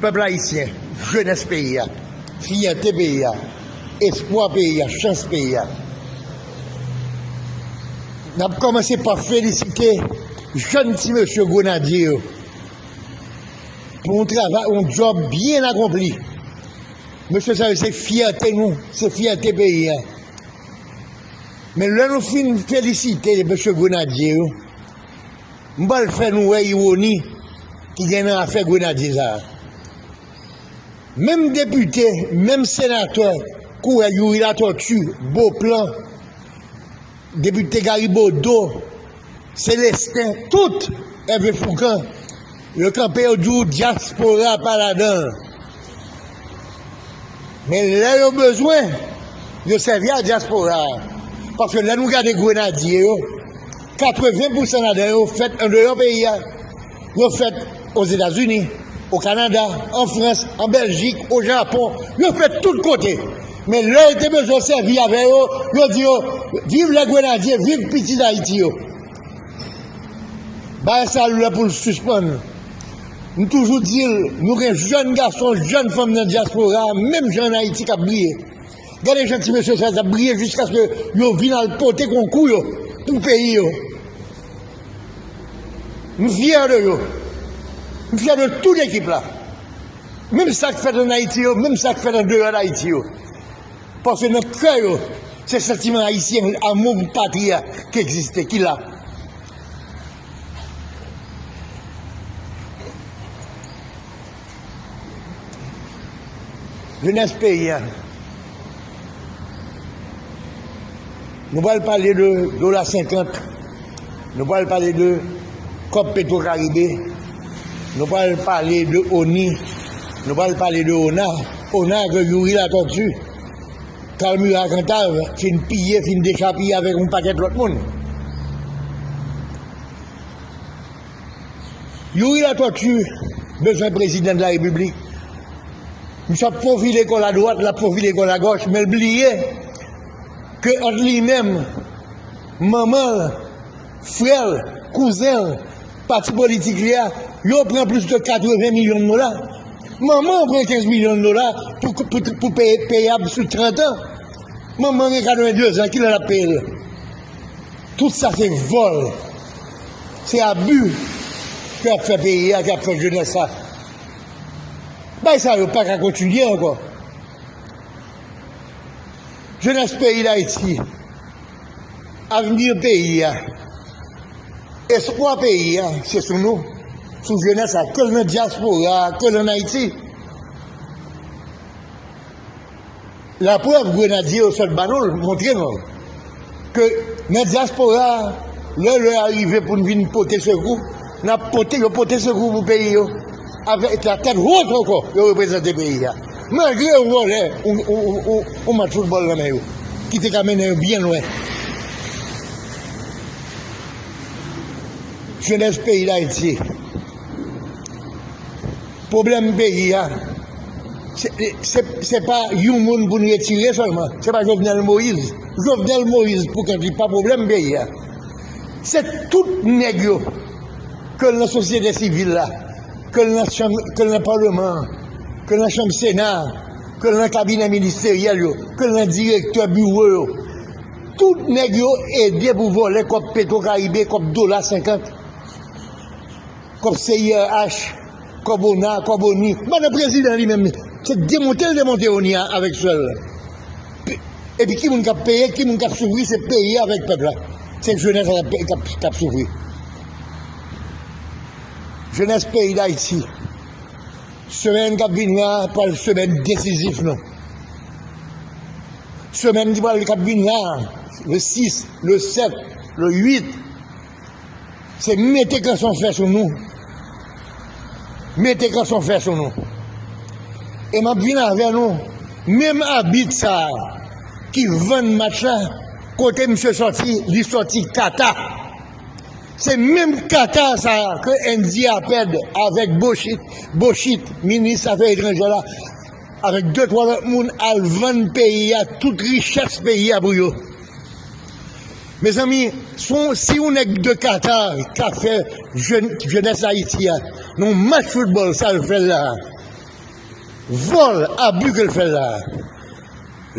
Pèp ayisyen, jenès peyi a, fyète peyi a, espwa peyi a, chans peyi a, n ap kòmanse pa felisite jèn ti mesye Grenadye yo pou yon travay, yon djòb byen akonpli. Mesye sa yo se fyète nou, se fyète peyi a. Men lè nou fin felisite mesye Grenadye yo, M pral fè nou wè iwoni ki gen nan afè Grenadye sa a. Menm depite, menm senatè kourè Youri Latòti, Boplan, depite Gari Bodo, Selesten, tout Ève Foukan. Yo kanpe yo di w dyaspora pa ladan l. Men lè yo bezwen, yo sèvi a dyaspora a. Paske lè nou gade grenadye yo, 80 pousan ladan yo fèt andeyò peyi a. Yo fèt Ozetazini, o Kanada, an Frans, an Bèljik, o Japon, yo fèt tout kote. Men lè yo te bezwen sèvi avè yo, yo di yo viv lè grenadye, viv piti Dayiti yo. Bagay sa lè poul sispann. M toujou dil nou gen jèn gason, jèn fanm nan dyaspora menm jan an Ayiti kap briye. Gade jan ti mesye sa yo tap briye jiskaske yo vin al pote konkou yo pou peyi yo. M fyè de yo. M fyè de tout ekip la. Menm sak fèt an Ayiti yo, menm sak fèt an deyò dAyiti yo. Paske nan kè yo, se santiman ayisyen, amou pou patri a ki egziste, ki la. Jenès peyi a. Nou pral pale de dola 50, nou pral pale de kòb petro karibe, nou pral pale de oni, nou pral pale de ona, ona ke youri latòti, kal mira kantav fin piye fin dechapiye avèk yon pakèt lòt moun. Youri latòti bezwen prezidan de la repiblik, misye ap fofile kòl a dwat, lap fofile kòl a gòch, menl bliye. Ke ant li menm, manman l, frè l, kouzen l, pati politik li a, yo pran plis ke 80 milyon dola. Manman an pran 15 milyon dola pou peyab sou 30 an. Manman an gen 82 zan, kilè l ap peye l yo? Tout sa se vòl, se abi ke y ap fè peyi a, ke y ap fè jenès la. Bagay sa yo pa ka kontinye ankò. Jenès peyi Dayiti, avni peyi a, espwa peyi a se sou nou, sou jenès la, ke l nan dyaspora, ke l an Ayiti. Laprèv grenadye yo sot ba nou l, montre nou l. Ke nan dyaspora a, lè lè a rive pou n vin pote sekou, n ap pote, yo pote sekou pou peyi yo avèk la tèt wot ankò, yo reprezante peyi a. Malgre yo vòlè yon match foutbòl nan men yo, ki te ka mennen yo byen lwen. Jenès peyi Dayiti. Pwoblèm peyi a se pa yon moun pou n retire sèlman, se pa Jovenel Moïse. Jovenel Moïse pou kont li pa pwoblèm peyi a. Se tout nèg yo, ke l nan sosyete sivil la, ke l nan palman an, ke l nan chanm sena a, ke l nan kabinè ministeryèl yo, ke l nan direktè biwo yo, tout nèg yo ede pou vòlè kòb petwo karibe, kòb dola senkant. Kòb CIRH, kòb ona, kòb onu. Madan prezidan li menm se demonte l demonte onu an avèk swè l. Epi ki moun k ap peye, ki moun k ap soufri se peyi avèk pèp la. Se jenès la k ap soufri. Jenès peyi Dayiti, semèn k ap vini an pral semèn desizif nou. Semèn ki pral k ap vini an, le 6, le 7, le 8. Se mete kanson fè sou nou. Mete kanson fè sou nou. E m ap vin avè nou, menm abit sa a ki vann match la, kote misye soti, li soti Kata. Se menm Kata sa a ke Andy Aped avèk Bochit, Bochit, minis afè etranjè la, avèk de twa lòt moun al vann peyi a, tout richès peyi a pou yo. Mezanmi son si yon nèg de Qatar ka fè jèn jènès Ayiti a nou match foutbòl sa l fè la vòl abi ke l fè la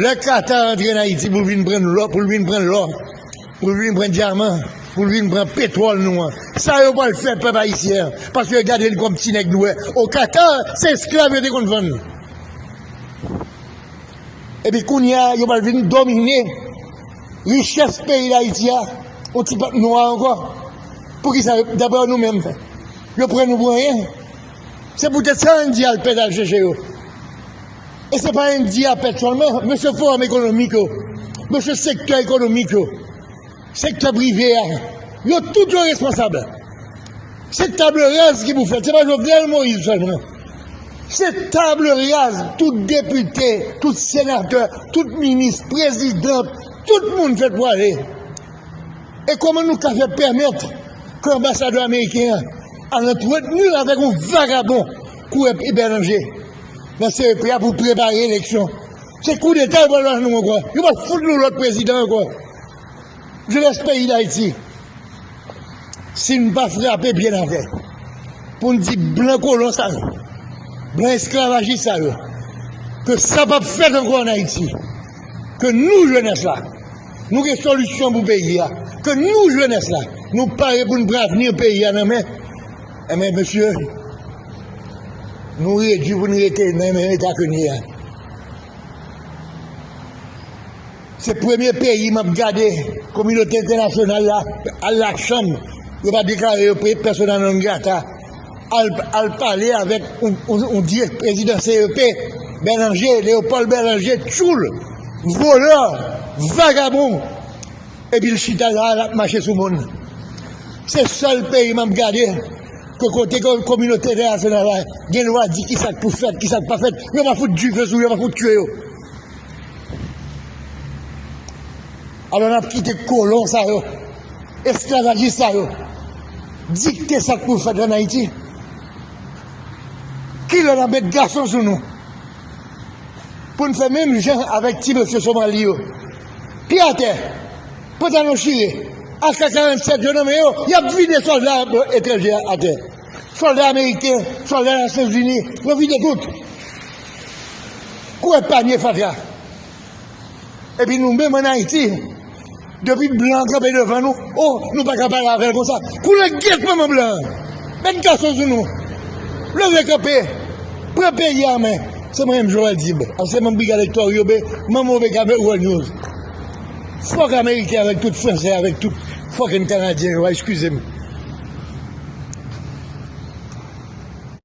lè Qatar antre n Ayiti pou l vin pran lò pou l vin pran lò pou l vin pran dyaman pou l vin pran petwòl nou an sa yo pral fè pèp ayisyen an paske yo gade n kòm ti nèg nou wè o Qatar se esklav yo te konn vann nou. Epi kounye a yo pral vin domine richès peyi dayiti a yon ti pèp nwa ankò poukisa daprè w nou menm yo pran nou pou anyen se poutèt sa endyen al pèt al chèche yo e se pa endyen ap pèt sèlman men se fowòm ekonomik yo men se sektè ekonomik yo Sektè prive a, yo tout yo responsab. Se table raz ki pou fèt, se pa Jovenel Moïse sèlman. Se table raz, tout depite, tout senatè, tout minis, prezidan, tout moun fèt pou ale. E kòman nou ka fè pèmèt ke anbasadè ameriken an al antreteni avèk yon vagabon kou M. Bernanger nan CEP a pou prepare eleksyon. Se koudeta yo pral ba nou ankò. Yo pral fout nou lòt prezidan ankò. Jenès peyi dayiti si nou pa frape byen avè pou nou di blan kolon sa yo blan esklavajis sa yo ke sa pap fèt ankò an ayiti ke nou jenès la nou gen solisyon pou peyi a ke nou jenès la nou pare pou nou pran avni peyi a nan men e men mesye nou redi pou nou rete nan men eta ke nou ye a Se premye peyi map gade kominote entènasyonal la al la chanm yo pa deklare yo persona non grata al pale avèk yon dirèk prezidan CEP Bèlanje Leopold Bèlanje tchoul volè vagabon epi l chita la lap mache sou moun se sèl peyi map gade ke kote kominote entènasyonal la gen dwa di kisak pou fèt kisak pa fèt yo pa fout dife sou yo pa fout tye yo. Alò n ap kite kolon sa yo, esklavajis sa yo dikte sa k pou fèt ann Ayiti? Ki lè n ap met gason sou nou pou n fè menm jan avèk ti mesye Somali yo? Pye atè, pantalon chire, AK-47 yo nan men yo, y ap vide sòlda etranje atè, sòlda ameriken, sòlda Nasyonzini, yo vide tout. Kou ap panye fatra. Epi nou menm an Ayiti, depi blan an kanpe devan nou, o, nou pa ka pale avè l konsa. Koule gyèt manman blan an! Met gason sou nou! Leve kanpe! Pran peyi a an men! Se mwen menm Jovenel Tib, ansèman brigad Hector Yobe, manm OVKB World News. Fòk Ameriken avèk tout Fransè avèk tout fucking Kanadyen yo va eskize m.